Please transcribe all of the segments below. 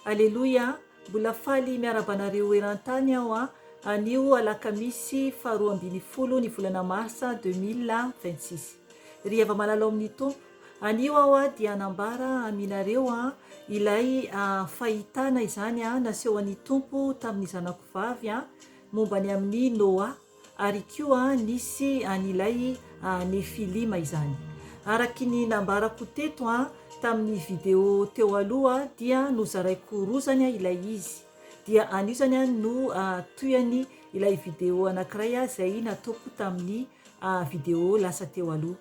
Aleloia, mbola faly miarahaba anareo eran-tany aho an! Anio alakamisy faha roa ambin'ny folo ny volana marsa deux mille vingt six. Ry hava-malala ao amin'ny Tompo, anio aho dia hanambara aminareo ilay fahitana izany nasehoan'ny Tompo tamin'ny zanako vavy momba ny amin'i Noah. Ary koa nisy an' ilay Nefilima izany. Araky ny nambarako teto an, tamin' ny video teo aloha dia nozaraiko roa zany an ilay izy. Dia anio zany an no tohihany ilay video anankiray an izay nataoko tamin' ny video lasa teo aloha.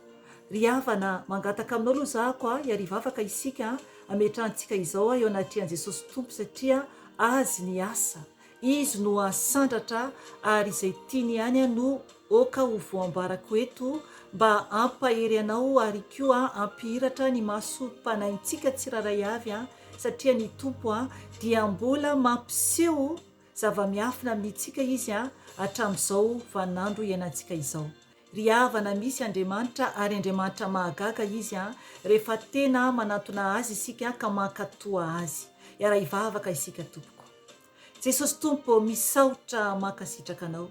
Ry havana an, mangataka aminao aloha zako an, hiarivo afaka isika an, ametrahantsika izao an eo anatrehan' Jesosy Tompo satria Azy ny asa. Izy no asandratra ary izay tiany ihany no oka ho voambarako eto mba ampahery anao ary koa ampihiratra ny maso panahintsika tsiraray avy an satria ny Tompo an dia mbola mampiseho zavamiafina aminitsika izy an atramizao vanandro ianantsika izao. Ry havana misy Andriamanitra ary Andriamanitra mahagaga Izy an! rehefa tena manatona Azy isika ka mankatoa Azy. Hiara-hivavaka isika tompoko. Jesosy Tompo ô, misaotra, mankasitraka Anao.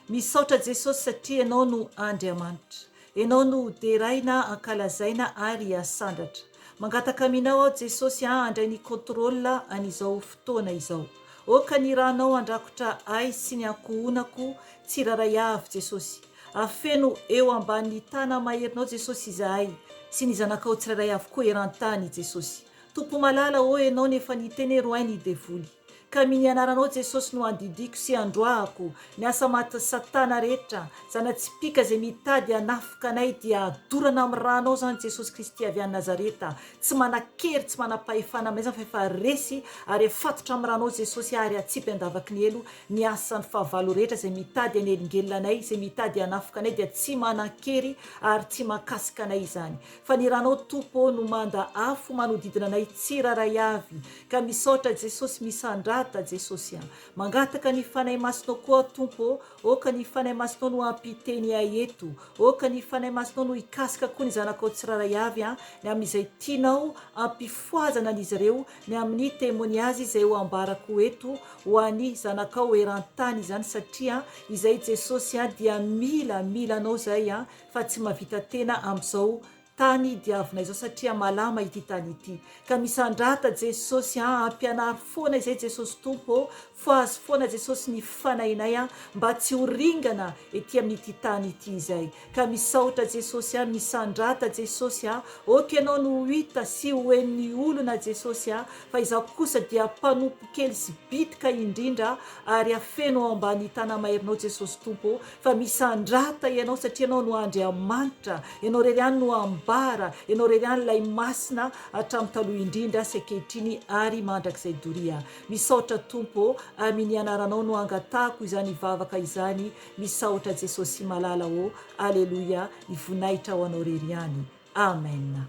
Misaotra Jesosy satria Ianao no Andriamanitra. Ianao no ho deraina, ankalazaina ary asandratra. Mangataka aminao aho Jesosy a handray ny contrôle an'izao fotoana izao ô ka ny ranao andrakotra ahy sy ny ankohonako tsirairay avy Jesosy afeno eo ambanin'ny tana maherinao Jesosy izahay sy ny zanakao tsirairay avy koa eran-tany Jesosy Tompo malala ô enao no efa niteny eroay ny devoly Ka mini anaranao Jesosy no andidiako sy androahako Ny asa matin'i satana rehetra Zana-tsipìka zay mitady hanafoka anay Dia dorana amin'ny ranao zany Jesosy Kristy avy any Nazareta Tsy manan-kery tsy manam-pahefana aminay zany fa efa resy Ary afatotra amin'ny ranao Jesosy Ary atsipy an-davaky ny helo Ny asan'ny fahavalo rehetra Zay mitady hanelingelina anay Zay mitady hanafoka anay Dia tsy manan-kery ary tsy mahakasika anay izany Fa ny ranao Tompo ô no manda afo Manodidina anay tsirairay avy Ka misaotra Jesosy misandrata Jesosy a. Mangataka ny Fanahy Masinao koa Tompo ô, ô ka ny Fanahy Masinao no hampiteny ahy eto, ô ka ny Fanahy Masinao no hikasika koa ny zanakao tsirairay avy a, ny amin'izay tianao hampifohazana an'izy ireo, ny amin'ny témoignage izay ho ambarako eto ho an'ny zanakao eran-tany izany satria izay Jesosy a dia mila, mila anao zahay a, fa tsy mahavita tena amin'izao Tany diavina izao satria malama ity tany ity ka misandrata Jesosy a ampianaro foana izay Jesosy Tompo ô fohazo foana Jesosy ny fanahinay a mba tsy ho ringana ety amin'ity tany ity izay ka misaotra Jesosy a misandrata Jesosy a ok ianao no ho hita sy ho henon'ny olona Jesosy a fa izaho kosa dia mpanompo kely sy bitika indrindra ary afeno ao ambany tanamairinao Jesosy Tompo ô fa misandrata ianao satria ianao no Andriamanitra, ianao irery ihany no ambara, ianao irery ihany ilay masina hatramin'ny taloha indrindra sy ankehitriny ary mandrakizay doria. Misaotra Tompo ô, aminy anaranao no angatahako izany vavaka izany, misaotra Jesosy malala ô, aleloia, ny voninahitra ho anao irery ihany. Amen.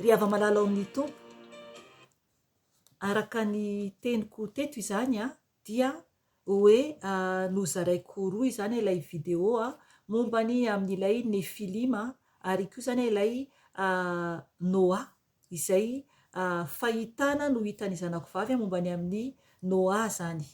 Ry hava malala ao amin'ny Tompo, araka ny teniko teto izany an, dia hoe nozaraiko ho roa izany ilay video momba ny amin'ilay Nefilima ary koa izany ilay Noa izay fahitana no hitan'ny zanako vavy momba ny amin'i Noa izany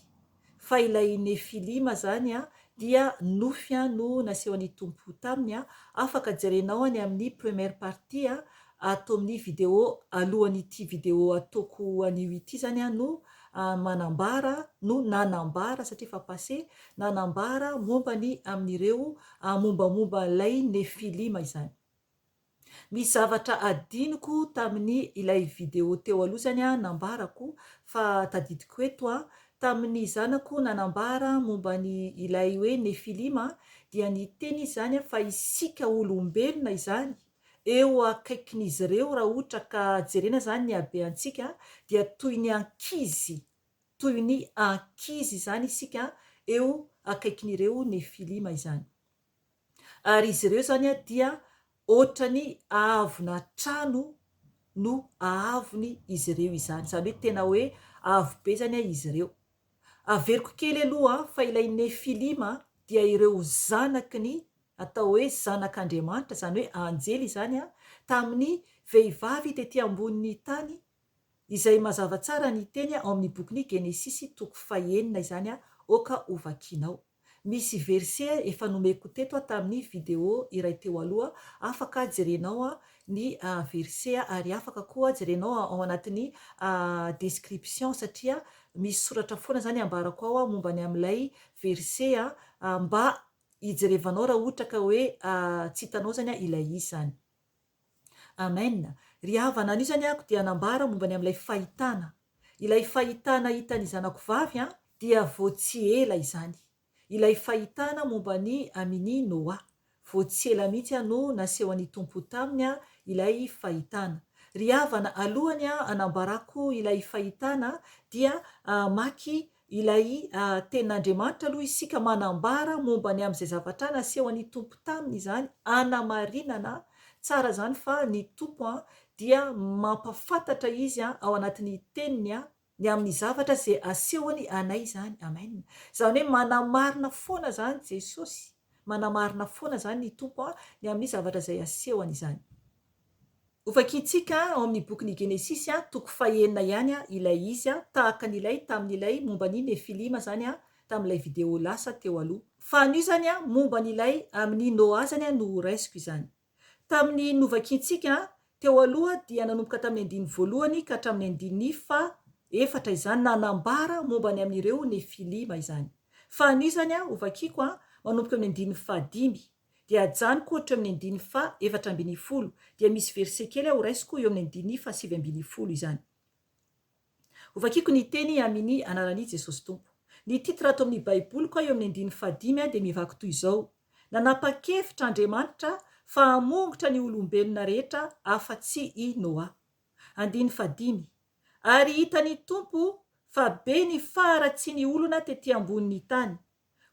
fa ilay Nefilima izany dia nofy an no nasehon'ny Tompo taminy an, afaka jerenao any amin'ny première partie an ato amin'ny vidéo alohan'ity vidéo ataoko anio ity zany an no manambara no nanambara satria efa passé, nanambara momba ny amin'ireo mombamomba an'ilay Nefilima izany. Ny zavatra adinoko tamin'ny ilay video teo aloha zany an, nambarako fa tadidiko eto an, tamin'ny zanako nanambara momba ny ilay hoe Nefilima dia niteny izy zany fa isika olombelona izany eo akaikin'izy ireo raha ohatra ka jerena zany ny habeantsika dia toy ny ankizy toy ny ankizy izany isika eo akaikin'ireo Nefilima izany. Ary izy ireo izany dia hoatran'ny haavona trano no haavony izy ireo izany. Izany hoe tena hoe avo be izany izy ireo. Averiko kely aloha fa ilay Nefilima dia ireo zanaky ny, atao hoe zanak'Andriamanitra, izany hoe anjely izany, tamin'ny vehivavy tetỳ ambonin'ny tany, izay mazava tsara ny teny ao amin'ny bokin'i Genesisy toko fahenina izany, aoka hovakianao. Misy verset efa nomeko teto aho tamin'ny video iray teo aloha, afaka jerenao ny verset ary afaka koa jerenao ao anatin'ny description satria misy soratra foana izany ambarako ao momba ny amin'ilay verset mba hijerevanao raha ohatra ka hoe tsy hitanao izany ilay izy izany. Amen! Ry havana, anisany ako dia nambara momba ny amin'ilay fahitana. Ilay fahitana hitan'ny zanako vavy an, dia vao tsy ela izany. Ilay fahitana momba an'i Amini Noa. Vao tsy ela mihitsy an no nasehon'ny Tompo ho taminy an ilay fahitana. Ry havana, alohany an hanambarako ilay fahitana dia hamaky Ilay Tenin'Andriamanitra aloha isika manambara momba ny amin'izay zavatra nasehon'ny Tompo taminy izany hanamarinana tsara izany fa ny Tompo dia mampafantatra Izy ao anatin'ny Teniny ny amin'ny zavatra izay asehony anay izany. Amen. Izany hoe manamarina foana izany Jesosy, manamarina foana izany ny Tompo ny amin'ny zavatra izay asehony izany. Ho vakintsika ao amin'ny bokin'ny Genesisy, toko fahenina ihany ilay izy, tahaka an'ilay tamin'ilay momba ny Nefilima izany tamin'ilay video lasa teo aloha. Fa anio izany, momba an'ilay amin'i Noa izany no horaisiko izany. Tamin'ny novakintsika teo aloha dia nanomboka tamin'ny andininy voalohany ka hatramin'ny andininy faha efatra izany nanambara momba ny amin'ireo Nefilima izany. Fa anio izany, hovakiko manomboka amin'ny andininy faha dimy. Dia ajanoko ohatra amin'ny andininy faha efatra ambin'ny folo, dia misy verset kely aho horaisiko eo amin'ny andininy faha sivy ambin'ny folo izany. Hovakiko ny teny amin'i anaran'i Jesosy Tompo. Ny titre ato amin'ny baiboliko aho eo amin'ny andininy faha dimy dia mivaky toy izao, Nanapa-kevitra Andriamanitra fa hamongotra ny olombelona rehetra afa-tsy i Noa. Andininy faha dimy, Ary hitan'ny Tompo fa be ny faharatsian'ny olona tety ambonin'ny tany.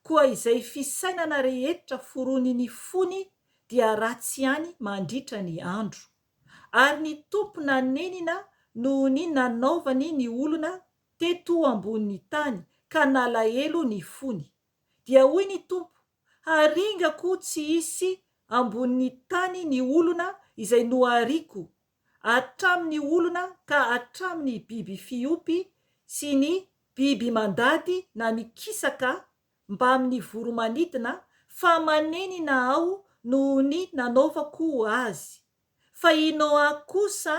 koa izay fisainana rehetra forony ny fony dia ratsy ihany mandritra ny andro, ary ny Tompo nanenina noho ny nanaovany ny olona teto ambonin'ny tany ka nalahelo ny fony, dia hoy ny Tompo, haringako tsy hisy ambonin'ny tany ny olona izay nohariko hatramin'ny olona ka hatramin'ny biby fiompy sy ny biby mandady na ny kisaka mbamin'ny voro-manidina fa manenina aho noho ny nanaovako azy. Fa i Noa kosa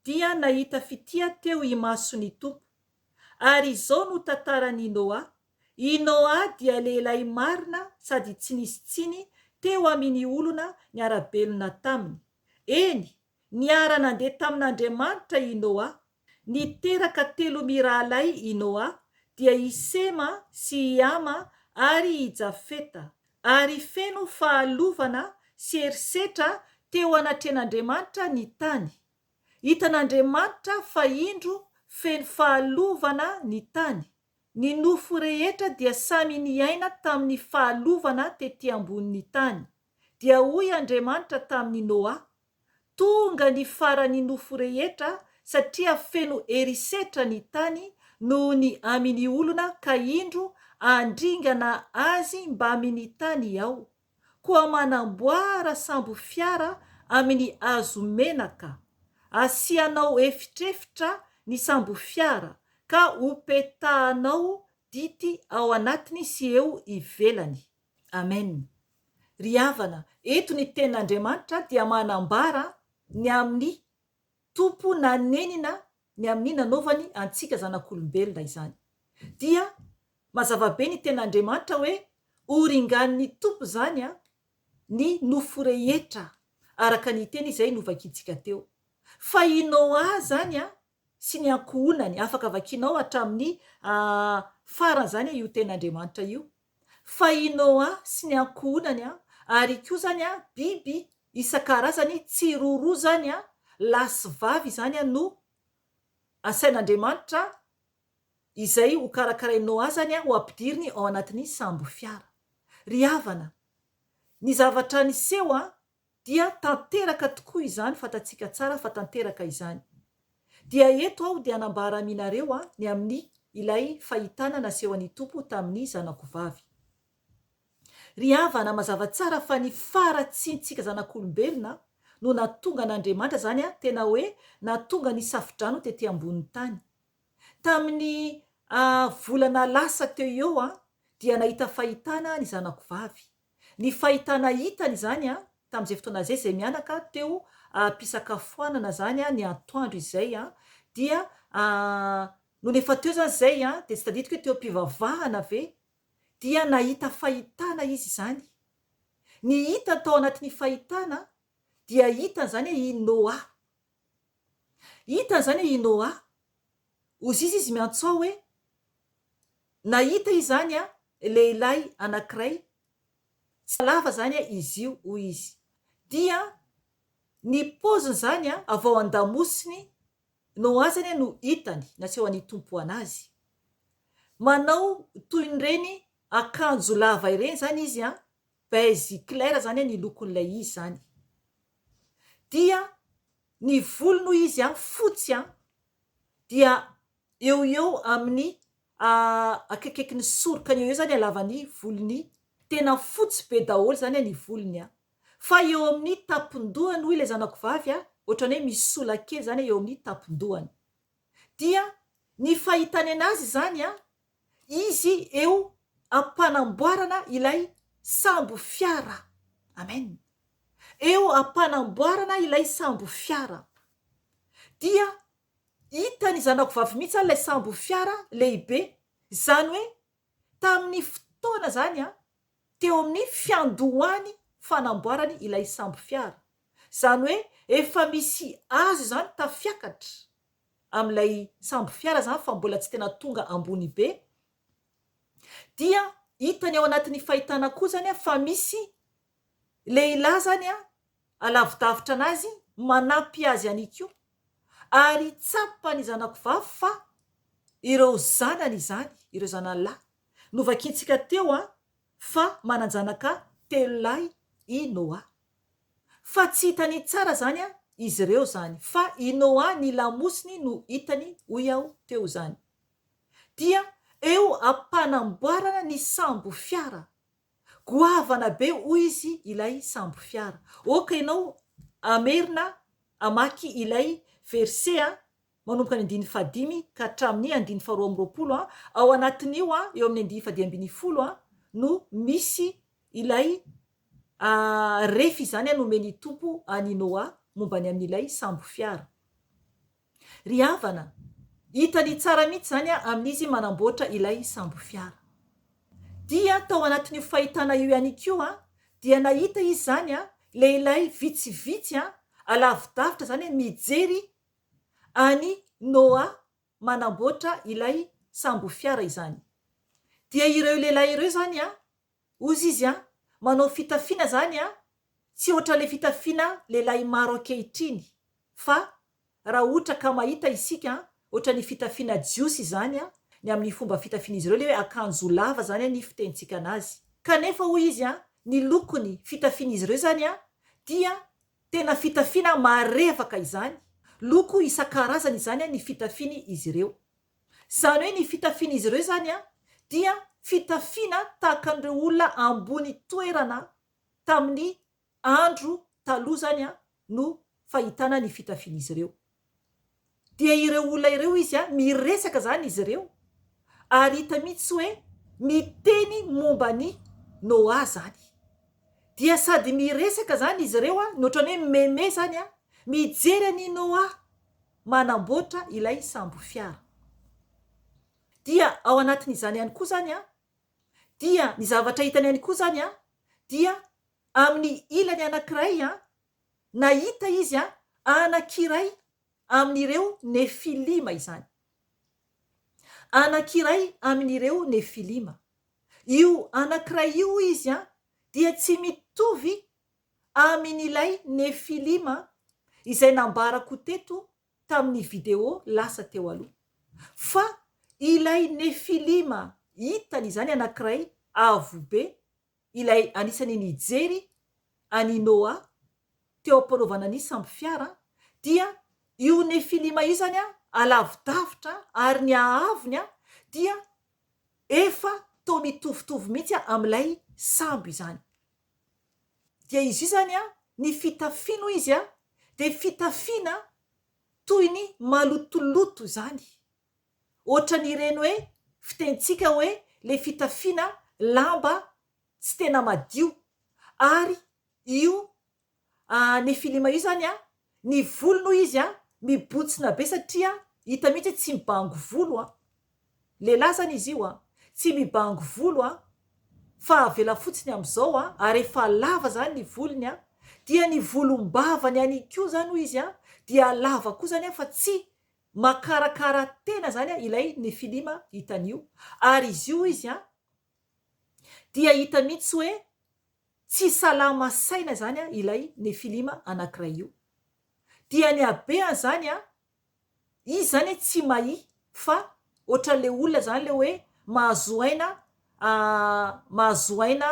dia nahita fitia teo imason'ny Tompo. Ary izao no tantaran'i Noa, I Noa dia lehilahy marina sady tsy nisy tsiny teo amin' ny olona niara-belona taminy. Eny, niara-nandeha tamin'Andriamanitra i Noa. Niteraka telo mirahalahy i Noa, dia i Sema sy i Hama ary i Jafeta, ary feno fahalovana sy herisetra teo anatrehan'Andriamanitra ny tany. Hitan'Andriamanitra fa indro feno fahalovana ny tany. Ny nofo rehetra dia samy niaina tamin'ny fahalovana tetỳ ambonin'ny tany. dia hoy Andriamanitra tamin'i Noa, Tonga ny faran'ny nofo rehetra, satria feno herisetra ny tany noho ny amin'ny olona ka indro handringana azy mbamin'ny tany aho, koa manamboara sambo fiara amin'ny hazo menaka, asianao efitrefitra ny sambo fiara, ka hopetahanao dity ao anatiny sy eo ivelany. Amen! Ry havana, eto ny tenin'Andriamanitra dia manambara ny amin'ny Tompo nanenina ny amin'ny nanaovany antsika zanak'olombelona izany. Dia mazava be ny tenin'Andriamanitra hoe ho ringanin'ny Tompo izany an, ny nofo rehetra, araka ny teny izay novakintsika teo. Fa i Noa izany an, sy ny ankohonany, afaka vakianao hatramin'ny farany izany io tenin'Andriamanitra io, fa i Noa sy ny ankohonany ary koa izany biby isan-karazany tsy roa roa izany, lahy sy vavy izany no asain'Andriamanitra izay ho karakarain'i Noa izany ho ampidiriny ao anatin'ny sambo fiara. Ry havana, ny zavatra niseho dia tanteraka tokoa izany fantatsika tsara fa tanteraka izany. Dia eto aho dia hanambara aminareo a ny amin'ny ilay fahitana nasehon'ny Tompo tamin'ny zanako vavy. Ry havana, mazava tsara fa ny faharatsiantsika zanak'olombelona no natonga an'Andriamanitra izany a tena hoe natonga ny safodrano tety ambonin'ny tany. Tamin'ny a volana lasa teo eo a dia nahita fahitana ny zanako vavy. Ny fahitana hitany izany tamin'izay fotoana izay, izay mianaka teo am-pisakafoanana izany ny antoandro izay, dia nony efa teo izany izay dia tsy tadidiko hoe teo am-pivavahana ve dia nahita fahitana izy izany. Ny hitany tao anatin'ny fahitana dia hitany izany hoe i Noa. Hitany izany hoe i Noa. Hozizy izy miantsoa hoe. Nahita izany lehilahy anankiray, tsy halava izany izy io, hoy izy. Dia ny paoziny izany avy ao an-damosiny no azany no hitany, nasehon'ny Tompo an'azy. Manao toy ireny akanjo lava ireny izany izy, beige clair izany ny lokon'ilay izy izany. Dia ny volony hoy izy fotsy, dia Eo ho eo amin'ny a akaikaiky ny sorokany eo ho eo zany halavan'ny volony, tena fotsy be daholo zany a ny volony a. Fa eo amin'ny tampon-dohany hoy ilay zanako vavy a, ohatran'ny hoe misy sola kely zany eo amin'ny tampon-dohany. Dia ny fahitany anazy izany a, izy eo am-panamboarana ilay sambo fiara. Amen. Eo am-panamboarana ilay sambo fiara. Dia Hitan'ny zanako vavy mihitsy ilay sambo fiara lehibe, izany hoe tamin'ny fotoana izany an, teo amin'ny fiandohan'ny fanamboarany ilay sambo fiara, izany hoe efa misy hazo izany tafiakatra amin'ilay sambo fiara izany fa mbola tsy tena tonga ambony be, dia hitany ao anatin'ny fahitana koa izany an fa misy lehilahy zany a, alavidavitra anazy, manampy azy any ko, ary tsapan'ny zanako vavy fa ireo zanany izany, ireo zanany lahy, novakintsika teo a, fa manan-janaka telo lahy i Noa. Fa tsy hitany tsara zany a, izy ireo zany, fa i Noa ny lamosiny no hitany hoy aho teo zany. Dia eo ampanamboarana ny sambofiara. Goavana be hoy izy ilay sambo fiara. Ok ianao hamerina hamaky ilay verset a, manomboka ny andininy fahadimy ka hatramin'ny andininy faharoa amby roapolo a, ao anatin'io a, eo amin'ny andininy fahadimy ambin'ny folo a, no misy ilay a ref izany a nomen'ny Tompo an'i Noa momba ny amin'ilay sambo fiara. Ry havana, hitany tsara mihitsy izany aho amin'izy manamboatra ilay sambo fiara. Dia tao anatin'io fahitana io ihany koa dia nahita izy izany lehilahy vitsivitsy alavi-davitra izany mijery an'i Noa manamboatra ilay sambo fiara izany. Dia ireo lehilahy ireo izany Ozy izy a, manao fitafiana zany a, tsy ohatran'le fitafiana lehilahy maro ankehitriny, fa raha ohtra ka mahita isika a, ohatran'ny fitafiana jiosy izany a, ny amin'ny fomba fitafian'izy ireo le hoe akanjo lava zany ny fitenintsika anazy. Kanefa hoy izy a, ny lokony fitafian'izy ireo zany a, dia tena fitafiana marevaka izany, loko isan-karazany izany a ny fitafiany izy ireo. Izany hoe ny fitafian'izy ireo izany dia fitafiana tahaka an'ireo olona ambony toerana tamin'ny andro taloha izany no fahitana ny fitafian'izy ireo. Dia ireo olona ireo izy miresaka izany izy ireo ary hita mihitsy hoe miteny momba an'i Noa izany. Dia sady miresaka izany izy ireo no ohatran'ny hoe mimeme izany, mijery an'i Noa manamboatra ilay sambo fiara. Dia ao anatin'izany ihany koa izany an, dia ny zavatra hitany ihany koa izany an, dia amin'ny ilany anankiray an, nahita izy an, anankiray amin'ireo Nefilima izany. Anankiray amin'ireo Nefilima. Io anankiray io hoy izy an, dia tsy mitovy Amin' ilay Nefilima izay nambarako teto tamin' ny video lasa teo aloha. Fa ilay Nefilima hitany izany anankiray avo be, ilay anisan'ny nijery an' i Noa teo am-panaovana ny sambofiara, dia io Nefilima io izany alavi-davitra ary ny haavony dia efa toa mitovitovy mihitsy amin' ilay sambo izany. dia izy io zany an, ny fitafiany hoy izy an, dia fitafiana toy ny malotoloto izany, ohatran'ireny hoe fitenintsika hoe le fitafiana lamba tsy tena madio, ary io an Nefilima io zany an ny volony hoy izy an mibontsina be satria hita mihitsy hoe tsy mibango volo an. Lehilahy zany izy io an tsy mibango volo an fa avela fotsiny amizao an ary efa lava zany ny volony an dia ny volombavany any koa zany hoy izy an dia lava koa zany an fa tsy makarakara tena zany an ilay Nefilima hitany io ary izy io hoy izy an dia hita mihitsy hoe Tsy salama saina izany ilay Nefilima anankiray io. Dia ny habean izany an, izy izany an tsy mahia fa ohatran'ilay olona izany ilay hoe mahazo aina mahazo aina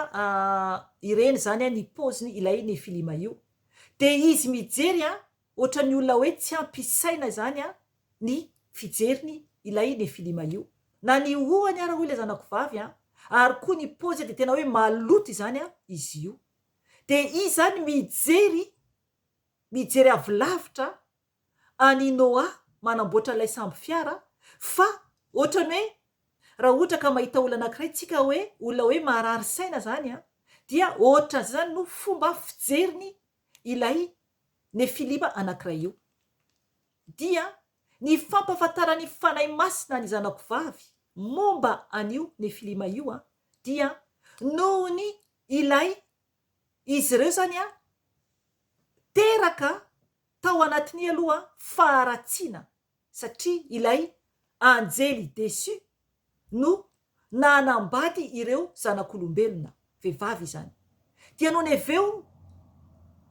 ireny izany an ny paoziny ilay Nefilima io. Dia izy mijery an, Ohatran'ny olona hoe tsy ampy isaina izany an ny fijeriny ilay Nefilima io. Na ny hohony ara hoy ilay zanako vavy an, ary koa ny pôzy dia tena hoe maloto izany an izy io. Dia izy izany mijery, mijery avy lavitra an i Noa manamboatra ilay sambo fiara fa ohatran'ny hoe raha ohatra ka mahita olona anankiray tsika hoe olona hoe maharary saina izany an, dia ohatran'izay izany no fomba fijeriny ilay Nefilima anankiray io, dia ny fampahafantaran'ny Fanahy Masina ny zanako vavy momba an'io Nefilima io dia noho ny ilay izy ireo izany teraka tao anatin'ny aloha faharatsiana. satria ilay anjely deçu no nanambady ireo zanak'olombelona, vehivavy izany, dia nony avy eo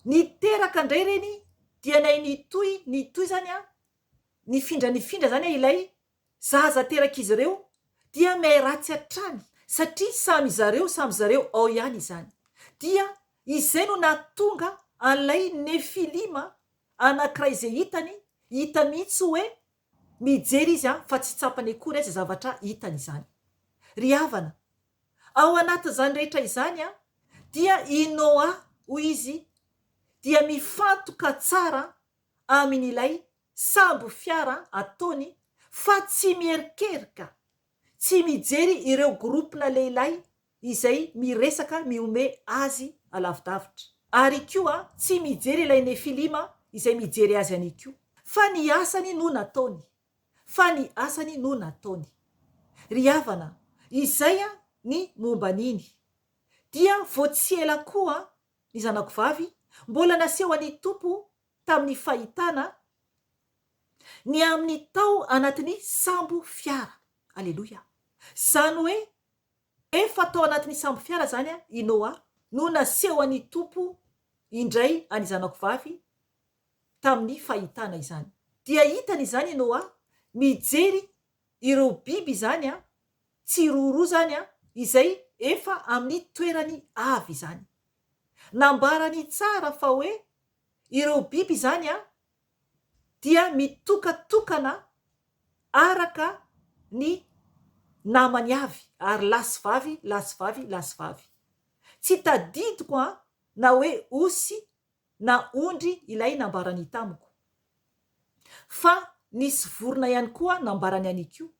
niteraka indray ireny dia nay nitohy nitohy izany an, nifindra nifindra izany an ilay zaza terak'izy ireo dia miha-ratsy hatrany satria samy zareo samy zareo ao ihany izany dia Izay no nahatonga an'ilay Nefilima anankiray izay hitany, hita mihitsy hoe mijery izy an, fa tsy tsapany akory aza zavatra hitany izany. Ry havana, ao anatin'izany rehetra izany an, dia i Noa, hoy izy, dia mifantoka tsara amin'ilay sambo fiara ataony fa tsy miherikerika, tsy mijery ireo groupe-na lehilahy izay miresaka mihomehy azy alavidavitra. Ary koa tsy mijery ilay Nefilima izay mijery azy any koa. Fa ny asany no nataony. Fa ny asany no nataony. Ry havana, izay ny momba an'iny. Dia vao tsy ela koa, ny zanako vavy, mbola naseho an'ny Tompo tamin'ny fahitana ny aminy tao anatin'ny sambo fiara. Aleloia. Izany hoe, Efa tao anatin'ny sambo fiara izany i Noa no nasehon'ny Tompo indray an'i zanako vavy tamin'ny fahitana izany. Dia hitany izany i Noa mijery ireo biby izany tsiroaroa izany izay efa amin'ny toerany avy izany. Nambarany tsara fa hoe ireo biby izany dia mitokatokana araka ny namany avy ary lahy sy vavy, lahy sy vavy, lahy sy vavy. Tsy tadidiko an! na hoe osy na ondry ilay nambarany tamiko. Fa nisy vorona ihany koa nambarany an'ikoa.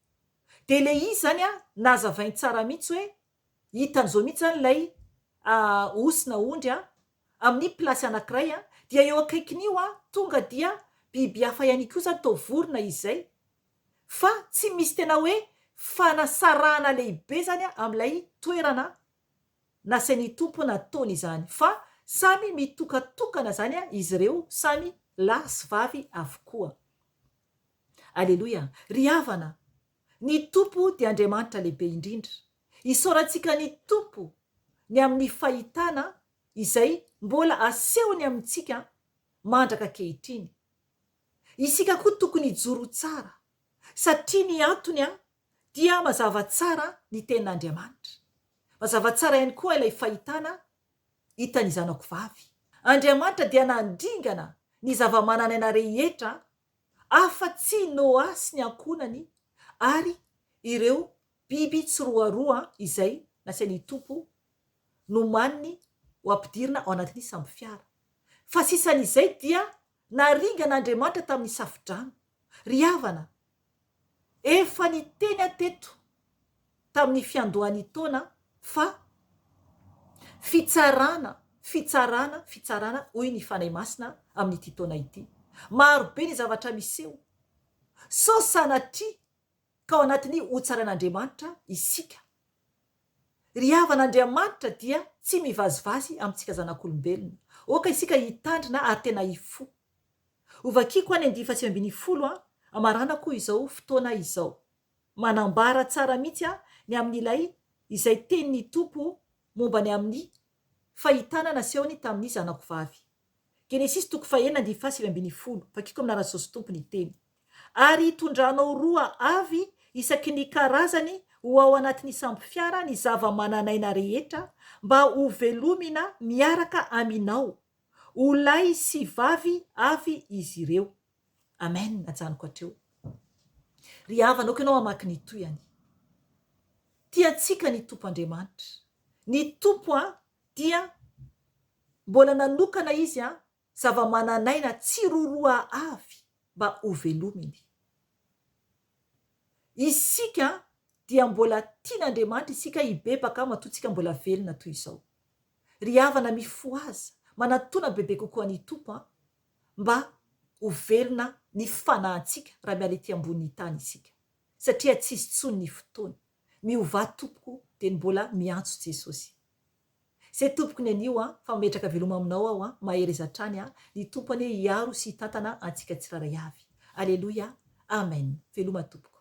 Dia ilay izy izany an, nazavainy tsara mihitsy hoe hitany zao mihitsy zany ilay osy na ondry a, amin'ny plasy anankiray a, dia eo akaikin'io a, tonga dia biby hafa ihany koa zany toa vorona izay, fa tsy misy tena hoe fanasarahana lehibe zany a amin'ilay toerana nasain'ny Tompo nataony izany, fa samy mitokatokana zany a izy ireo, samy lahy sy vavy avokoa. Aleloia! Ry havana! Ny Tompo dia Andriamanitra lehibe indrindra. Isaorantsika ny Tompo ny amin'ny fahitana izay mbola asehony amintsika mandraka ankehitriny. Isika koa tokony hijoro tsara, satria ny antony dia mazava tsara ny Tenin'Andriamanitra. Mazava tsara ihany koa ilay fahitana hitan'ny zanako vavy. Andriamanitra dia nandringana ny zava-manan'aina rehetra afa-tsy i Noa sy ny ankohonany ary ireo biby tsiroaroa izay nasain'ny Tompo nomaniny ho ampidirina ao anatin'ny sambofiara. Fa sisan'izay dia naringan'Andriamanitra tamin'ny safodrano. Ry havana, Efa niteny aho teto tamin'ny fiandohan'ny taona fa fitsarana, fitsarana, fitsarana hoy ny Fanahy Masina amin'ity taona ity. Marobe ny zavatra miseho. Sao sanatria ka ao anatin'ny ho tsaran'Andriamanitra isika. Ry havana Andriamanitra dia tsy mivazivazy amintsika zanak'olombelona. Oka isika hitandrina ary tena hifoha. Ho vakiako any andihy faha sivy ambin'ny folo an, marana koa izao fotoana izao. Manambara tsara mihitsy an ny amin'ilay izay tenin'ny Tompo momba ny amin'ny fahitana nasehony tamin'ny zanako vavy. Genesisy toko faha enina andihy faha sivy ambin'ny folo, vakiako aminà raha Jesosy Tompo ny teny. Ary hitondranao roa avy isaky ny karazany ho ao anatin'ny sambo fiara ny zava-manan'aina rehetra mba ho velomina miaraka aminao. Ho lahy sy vavy avy izy ireo. Amen, ajanoko hatreo. Ry havana, ok ianao hamaky ny toiany. Tia antsika ny Tompo Andriamanitra. Ny Tompo a, dia mbola nanokana Izy a, zava-manan'aina tsiroroa avy mba hovelominy. Isika dia mbola tian'Andriamanitra isika hibebaka matoa tsika mbola velona toy izao. Ry havana mifohaza, manatona bebe kokoa an'i Tompo an, mba ho velona ny fanahantsika raha miala ety ambonin'ny tany isika. Satria tsisy tsony ny fotoana. Miovà tompoko dia ny mbola miantso Jesosy. Ze tompoko ny anio a fa mametraka veloma aminao aho a mahereza hatrany a ny tompo anie hiaro sy hitantana antsika tsiraray avy aleloia amen veloma tompoko.